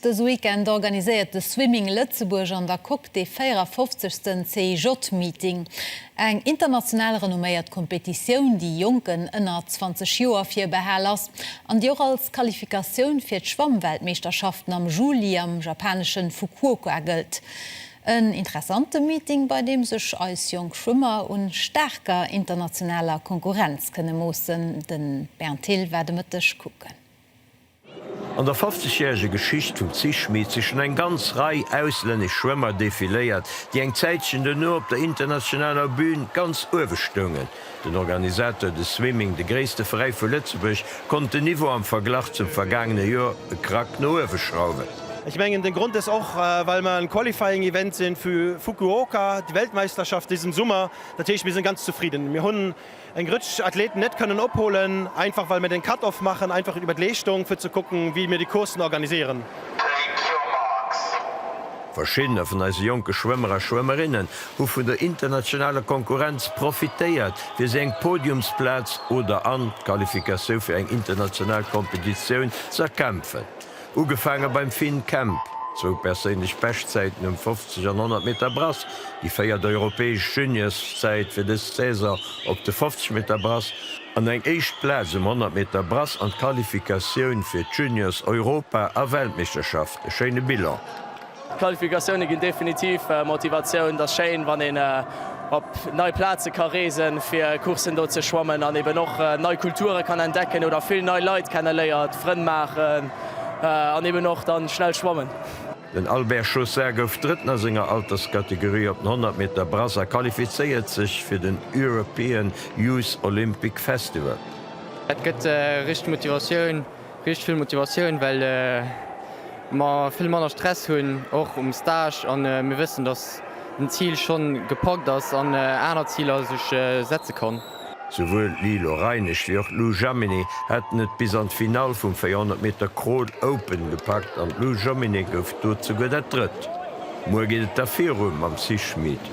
Dëse Weekend organiséiert de Swimming Lëtzebuerg an der Coque dee 54. CIJ-Meeting. Eng international renomméiert Kompetitioun, déi Jonken ënner 20 Joer virbehal ass an déi och als Qualifikatioun fir d'Schwammweltmeeschterschaften am Juli am japanesche Fukuoka gëllt. En interessante Meeting, bei deem sech eis jonk Schwëmmer un staarker internationaler Konkurrenz kënne moossen. De Bernd Thill war de Mëtteg kucken. An der 50 järege Geschicht vum Zich-Meet si schonn eng ganz Rei auslännesch Schwëmmer defiléiert, déi eng Zäitchen duerno op der internationaler Bün ganz uewe stoungen. Den Organisateur de Swimming, de gréisste Veräi vu Lëtzebuerg, konnt den Niveau am Verglach zum vergaangene Joer e Krack no uewe schrauwen. Ech mengen den Grond ass och well mer en Qualifying Event sinn vu Fukuoka, déi Weltmeisterschaft dësen Summer. Dat heescht mir sinn ganz zefridden. Eng Rëtsch Athleten net kënnen opholen, einfach well mir den Cut-off maachen, einfach iwwer d'Leeschtung, fir ze kucken, wéi mir déi Courssen organiséieren. Verschiddene vun eise jonke Schwëmmer a Schwëmmerinnen hu vun der internationaler Konkurrenz profitéiert, fir sech eng Podiumsplaz oder an d'Qualifikatioun fir eng international Kompetitioun z'erkämpfen. Ugefaange beim Finn Kemp, zwou perséinlech Beschtzäiten um 50 an 100 Meter Brass, déi véiert europäesch Juniorszäit fir dës Saison op de 50 Meter Brass an eng éischt Plaz um 100 Meter Brass an d'Qualifikatioun fir d'Juniors-Europa a Weltmeeschterschaft. E schéine Bilan. D'Qualifikatioune ginn definitiv Motivatioun. Et ass schéin, wann een op nei Plaze ka reesen, fir Courssen do ze schwammen an eben och nei Kulture kann entdecken oder vill nei Leit kenneléiert, Frënn maachen an eben och da schnell schwammen. Den Albert Chaussard gouf Drëtten a senger Alterskategorie op den 100 Meter Brasse a qualifizéiert sech fir den European Youth Olympic Festival. Et gëtt richteg Motivatioun. Riicht vill Motivatioun, well mer vill manner Stress hunn, och um Stage, a mir wëssen, datt den Zil schonn gepackt ass an aner Ziler sech setze kann. Souwuel d'Lilo Reinesch wéi och d'Lou Jaminet haten et bis an d'Finall vum 400 Meter Crawl Open gepackt an d'Lou Jaminet gouf do souguer dat Drëtt. Muer geet et da viru mam Sis Schmid.